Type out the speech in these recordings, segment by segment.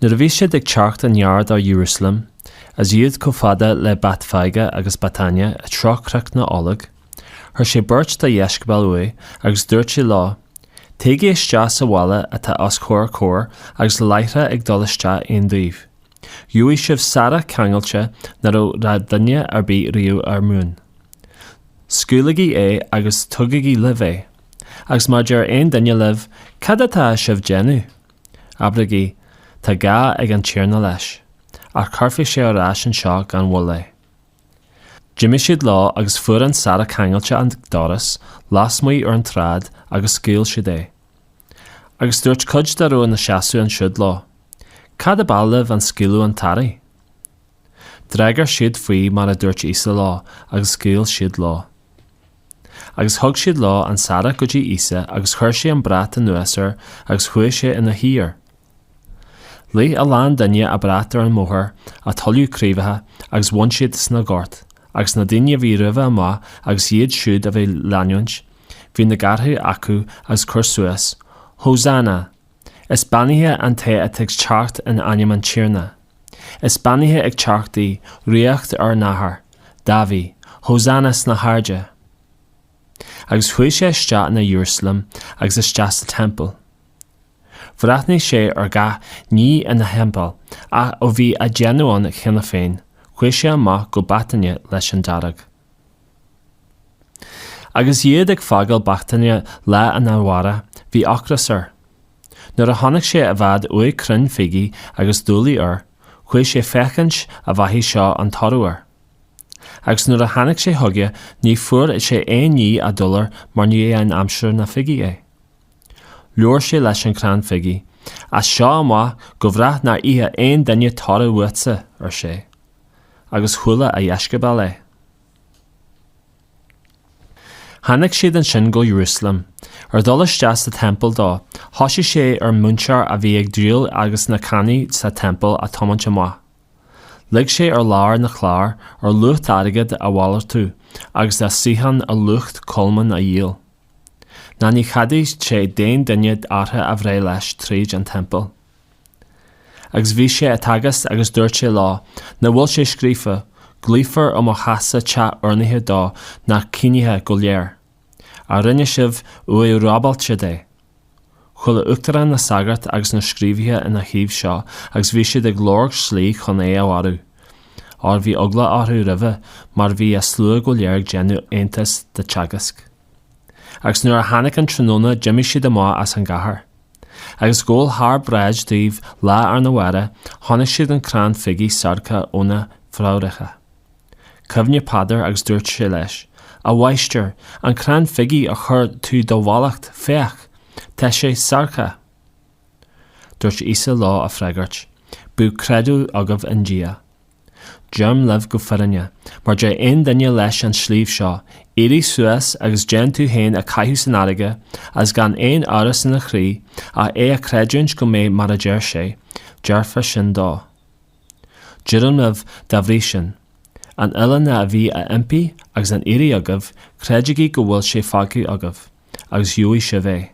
Nuair a bhí siad ag teacht i ngar do Iarúsailéim, is iad chomh fada le Béatfaigé agus Béatáine i dtreo Chnoc na nOlóg, chuir sé beirt dá dheisceabail uaidh agus dúirt sé leo, Téigí isteach sa bhaile atá os comhair comhair agus láithreach ag dul isteach ann daoibh gheobhaidh sibh searrach ceangailte ná raibh raibh duine ar bith riamh ar a mhuin. Scaoiligí é agus tugaigí libh é. Agus má deir aon duine libh, Cad atá sibh déanamh? Abraigí, 'Tá gá ag an Tiarna leis, ach cuirfidh sé ar ais anseo gan mhoill é. D'imigh siad leo agus fuair an searrach ceangailte an doras lasmuigh ar an tsráid agus scaoil siad é. Agus dúirt cuid dá raibh ina seasamh ansiúd leo, 'Cad ab áil libh an scaoileadh an tsearraigh? D'fhreagair siad faoi mar a dúirt Íosa leo agus scaoil siad leo. Agus thug siad leo an searrach go dtí Íosa agus chuir sé an brat anuas air agus chuaigh sé ina shuí air. Leath a lán duine a brat ar an mbóthar a thuilleadh craobhacha agus bhain siad sna goirt, agus na daoine a bhí roimhe amach agus iad siúd a bhí leanúint, bhí na gártha acu agus cur suas, Hosanna! Is beannaithe an té atá ag teacht in ainm an Tiarna. Is beannaithe ag teacht í, ríocht ár n-athar, Dáiví, hosanna sna hairde! Agus chuaigh sé isteach in Iarúsailéim agus isteach sa Teampall. Bhreathnaigh sé ar gach ní ina thimpeall, ach ó bhí an déanaí ann cheana féin, chuaigh sé amach go Béatáine leis an dáréag. Agus iad ag fágáil Béatáine lá arna mhárach, bhí ocras air. Nuair a chonaic sé i bhfad uaidh crann fígí agus duilliúr air, chuaigh sé féachaint an bhfaigheadh sé aon toradh air. Agus nuair a tháinig sé chuige ní fuair sé aon ní ach duilliúr mar ní hé an aimsir na fígí é. Labhair sé leis an crann fígí, 'As seo amach go brách nár ithe aon duine toradh uatsa, ar sé. agus chuala a dheisceabail é. Tháinig siad ansin go Iarúsailéim. Ar dhul isteach sa Teampall dó, thosaigh sé ar muintir a bhí ag díol agus na ceannaithe sa Teampall a thiomáint amach. Leag sé ar lár na cláir, ar lucht airgid a mhalartú agus na suíocháin ar lucht colmán a dhíol. Ná ní cheadaigh sé d'aon duine árthach a bhreith leis tríd an Teampall. Agus bhí sé á dteagasc agus dúirt sé leo, nach bhfuil sé scríofa, 'Glaofar ar mo theachsa teach urnaithe do na ciníocha go léir'? Ach rinne sibh uaimh robálaithe de? Chuala uachtaráin na sagart agus na scríobhaithe ina thaobh seo agus bhí siad ag lorg slí chun é a mharú, óir bhí eagla orthu roimhe mar bhí an slua go léir ag déanamh iontais dá theagasc. agus nuair a tháinig an tráthnóna d'imigh siad amach as an gcathair. Agus gabháil thar bráid dóibh lá arna mhárach chonaic siad an crann fígí seargtha óna phréamhacha. Chuimhnigh Peadar agus dúirt sé leis, 'A Mháistir, an crann fígí a chuir tú do mhallacht, féach! tá sé seargtha. Dúirt Íosa leo a freagairt, 'Bíodh creideamh agaibh i nDia. Deirim libh go fírinne, má deir aon duine leis an sliabh seo, Éirigh suas agus déan tú féin a caitheamh san fharraige, agus gan aon amhras ina chroí ach é a chreidiúint go mbeidh mar a deir sé, déarfar sin dó. Deirim libh, dá bhrí sin, an uile ní a bhí á impí agus á iarraidh agaibh, creidigí go bhfuil sé fágtha agaibh, agus gheobhaidh sibh é.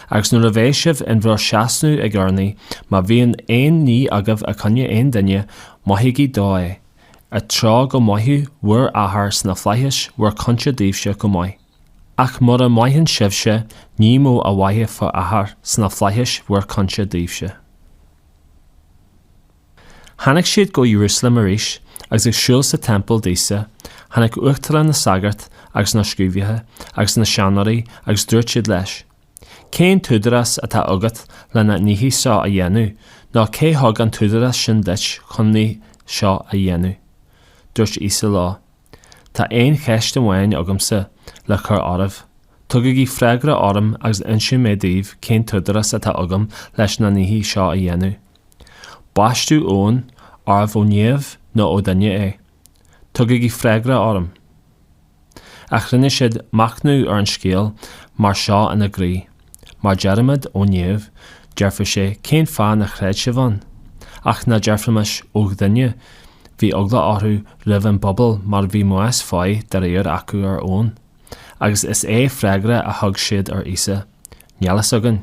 Agus nuair a bheidh sibh in bhur seasamh ag urnaí, má bhíonn aon ní agaibh i gcoinne aon duine, maithigí dó é, i dtreo go maithfidh bhur Athair sna flaithis bhur cionta daoibhse go maith. Ach mura maitheann sibhse, ní mó a mhaithfidh bhur Athair sna flaithis bhur cionta daoibhse. Tháinig siad go Iarúsailéim arís, agus ag siúl sa teampall d'Íosa, tháinig uachtaráin na sagart agus na scríobhaithe agus na seanóirí agus dúirt siad leis, Cén t-údarás atá agat le na nithí seo a dhéanamh, nó cé thug an t-údarás sin duit chun na nithí seo a dhéanamh? Dúirt Íosa leo, Tá aon cheist amháin agamsa le cur oraibh. Tugaigí freagra orm agus inseoidh mé daoibh cén t-údarás atá agam leis na nithí seo a dhéanamh. Baisteadh Eoin, arbh ó Neamh nó ó dhuine é? Tugaigí freagra orm. Ach rinne siad machnamh ar an scéal mar seo ina gcroí, Má deirimid, ó neamh, déarfaidh sé, cén fáth nár chreid sibh ann? Ach ná déarfaimis, ó dhuine, bhí eagla orthu roimh an bpobal mar bhí meas fáidh dáiríre acu ar Eoin. Agus is é freagra a thug siad ar Íosa, Níl fhios againn.